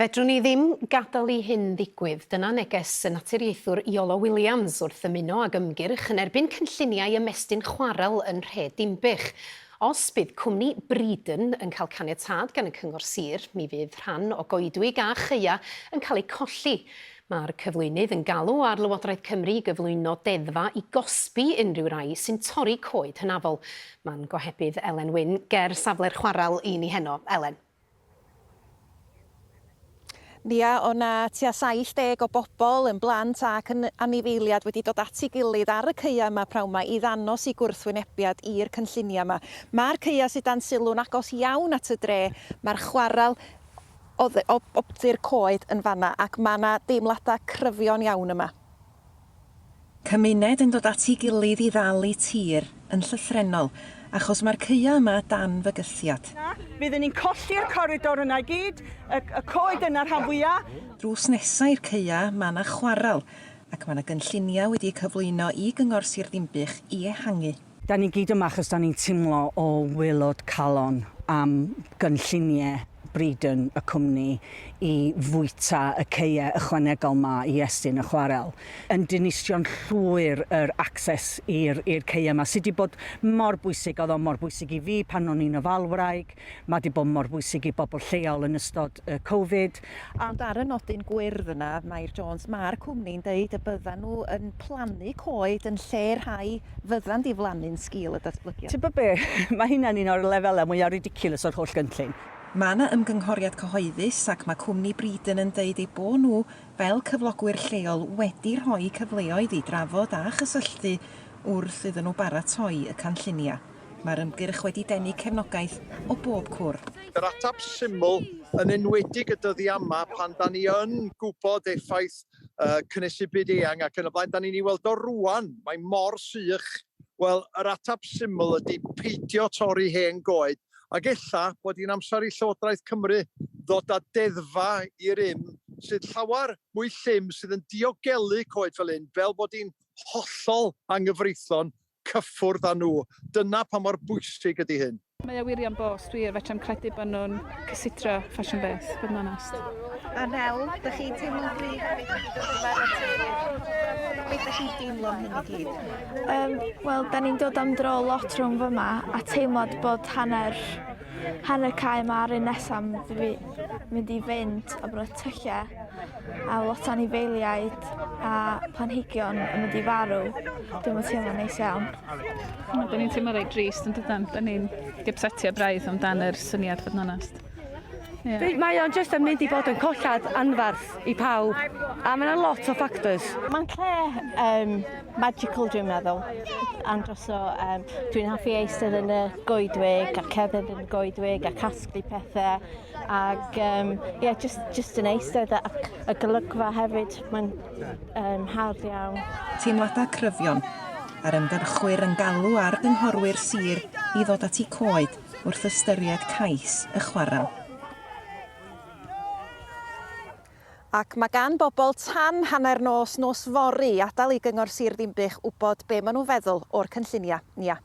Fedrwn ni ddim gadael i hyn ddigwydd, dyna neges y naturiaethwr Iolo Williams wrth ymuno ag ymgyrch yn erbyn cynlluniau ymestyn chwarel yn Nhre Dinbych. Os bydd cwmni Breedon yn cael caniatâd gan y Cyngor Sir, mi fydd rhan o goedwig a chaea yn cael eu colli. Mae'r cyflwynydd yn galw ar Lywodraeth Cymru i gyflwyno deddfa i gosbi unrhyw rai sy'n torri coed hynafol. Mae'n gohebydd Elen Wyn ger safle'r chwarel i ni heno. Elen. Nia, O na, tua 70 o bobl, yn blant ac yn anifeiliad, wedi dod at ei gilydd ar y caeau yma p'nawn 'ma i ddangos eu gwrthwynebiad i'r cynlluniau yma. Mae'r caeau sydd dan sylw'n agos iawn at y dre, mae'r chwarel oddi wrth ffenestr coed yn fan'na ac mae 'na deimladau cryfion iawn yma. Cymuned yn dod at ei gilydd i ddalu tir yn llythrennol, achos mae'r caeau yma dan fygythiad. Na, fydden ni'n colli'r coridor yna i gyd, y, y coed yna rhan fwya'. Drws nesa i'r caeau, mae 'na chwarel, ac mae 'na gynlluniau wedi eu cyflwyno i Gyngor Sir Ddinbych i ehangu. Da ni gyd yma achos da ni'n timlo o waelod calon am gynllunie Breedon y cwmni i fwyta y ceue ychwanegol ma i estyn y chwarel. Yn dinistrion llwyr yr acces i'r i'r ceue ma sy di bod mor bwysig, oedd o mor bwysig i fi pan o'n i'n ofalwraig, ma di bod mor bwysig i bobl lleol yn ystod y Covid. Ond ar y nodyn gwyrdd yna, Mair Jones, mae'r cwmni'n deud y byddan nhw yn plannu coed yn lle rhai fyddan diflannu'n sgil y datblygiad. Tybed be, mae hynna'n un o'r lefelau mwyaf ridiculous o'r holl gynllun. Mae 'na ymgynghoriad cyhoeddus ac mae cwmni Breedon yn deud eu bod nhw, fel cyflogwyr lleol, wedi rhoi cyfleoedd i drafod a chysylltu wrth iddyn nhw baratoi y canlluniau. Mae'r ymgyrch wedi denu cefnogaeth o bob cwr. Yr ateb syml, yn enwedig y dyddiau yma pan 'da ni yn gwybod effaith cynhesu byd eang ac yn y blaen, 'da ni'n ei weld o rŵan, mae mor sych, wel, yr ateb syml ydy peidio torri hen goed, ac ella bod hi'n amser i Llywodraeth Cymru ddod â deddfa i rym sydd llawer mwy llym, sydd yn diogelu coed fel hyn, fel bod hi'n hollol anghyfreithlon cyffwrdd â nhw. Dyna pa mor bwysig ydy hyn. Mae o wir iawn boss, dwi fetrem credu bod nhw'n cysidro ffasiwn beth, bod yn onest. A Nel, dych chi'n teimlo'n gryf am ei gyd o ddyfar y tŷ? Beth dych chi'n deimlo am hyn i gyd? Um, Wel, da ni'n dod am dro lot rhwng fyma a teimlad bod hanner hanner cae yma ar un nesaf mynd i fynd o bro tyllau. a lot o anifeiliaid a planhigion yn mynd i farw, dwi'm yn teimlo'n neis iawn. Wel, da ni'n teimlo reit drist yn dydan? Da ni'n dipsetio braidd amdan yr syniad fod yn onest. Yeah. Be, mae o'n just yn mynd i bod yn collad anfarth i pawb, a mae yna lot o factors. Mae'n lle um, magical dwi'n meddwl, andros o, um, dwi'n hoffi eistedd yn y goedwig a cerdded yn y goedwig a casglu pethau, Ac um, yeah, just, just yn eistedd a, a golygfa hefyd, mae'n um, hawdd iawn. Teimladau cryfion a'r ymgyrchwyr yn galw ar gynghorwyr sir i ddod at eu coed wrth ystyried cais y chwarel. Ac mae gan bobl tan hanner nos nos fory adael i Gyngor Sir Ddinbych wybod be maen nhw'n feddwl o'r cynlluniau. Nia.